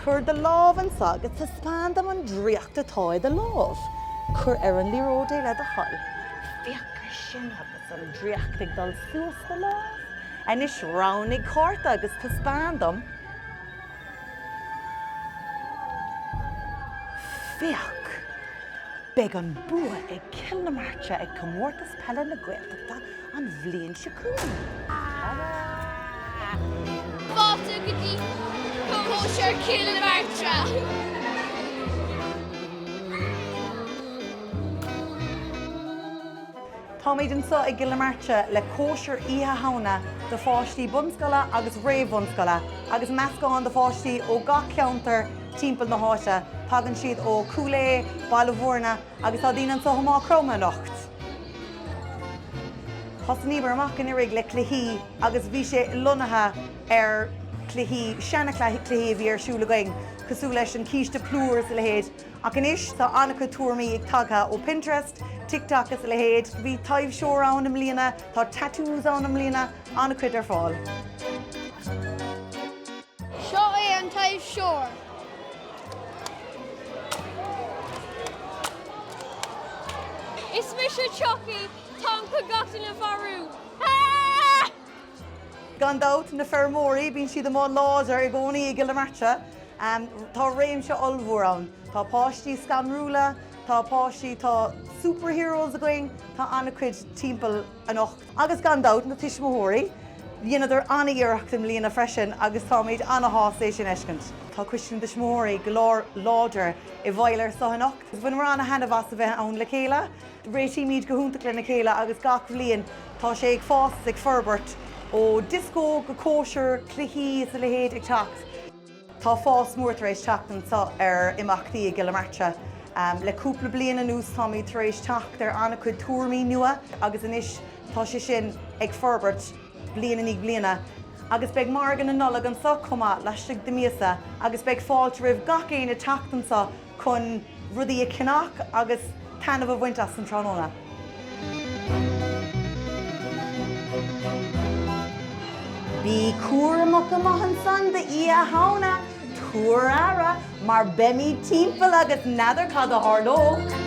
Cuir do lámh anso agus taispeáin dom an draíocht atá i do lámh. Cuir ar an liathróid é le do thoil. Féach ar sin agus an draíocht ag dul suas do lámh. Anois roghnaigh cárta agus taispeáin dom. Féach! Beidh an bua ag Cill na Martra ag Comórtas Peile na Gaeltachta an bhliain seo chugainn. Fáilte go dtí Cóisir Chill na Martra! Táimid anseo i gCill na Martra le cóisir Oíche Shamhna do pháistí bunscoile agus réamh-bhunscoile agus meascán de pháistí ó gach ceantar timpeall na háite. Tagann siad ó Cúil Aodha, Baile Mhúirne agus tá daoine anseo ó Maigh Chromtha anocht. Thosnaíomar amach anuraidh le cluichí agus bhí sé lonnaithe ar chluichí, seana chluichí a bhí ar siúl againn cosúil leis an císte plúr is a leithéid ach anois tá an-chuid tuairimí ag tagtha ó Pinterest, TikTok is a leithéid. Bhí taibhseoir ann i mbliana, tá tattoos ann i mbliana, an-chuid ar fáil. Seo é an taibhseoir. Is mise Chucky, táim chun gach duine a mharú! Aaaaaaah! Gan dabht, na feirmeoirí, bíonn siad amuigh láidir i gcónaí i gCill na Martra. Tá réimse ollmhór ann. Tá páistí scanrúla, tá páistí, tá superheroes againn, tá an-chuid timpeall anocht. Agus gan dabht, na tuismitheoirí. Dheineadar ana-iarracht i mbliana freisin agus táimid ana-shásta é sin fheiscint. Tá Coiste na dTuismitheoirí go lánláidir i bhfeighil ar seo anocht. Bhaineamar ana-thaitneamh as a bheith ann le chéile. Réitímid go hiontach lena chéile agus gach bliain tá sé ag fás is ag forbairt, ó dioscó go cóisir, cluichí is a leithéid ag teacht. Tá fás mór tar éis teacht anseo ar imeachtaí i gCill na Martra. Le cúpla bliain anuas táimid tar éis teacht ar an-chuid tuairimí nua agus anois tá sé sin ag forbairt bliain i ndiaidh bliana. Agus beidh Margadh na Nollag anseo chomh maith laistigh de míosa agus beidh fáilte roimh gach éinne teacht anseo. chun rudaí a cheannach agus taitneamh a bhaint as an tráthnóna. Bí cúramach amuigh ansan d'Oíche Shamhna, tabhair aire mar beimid timpeall agus n'fheadar cad a tharlódh!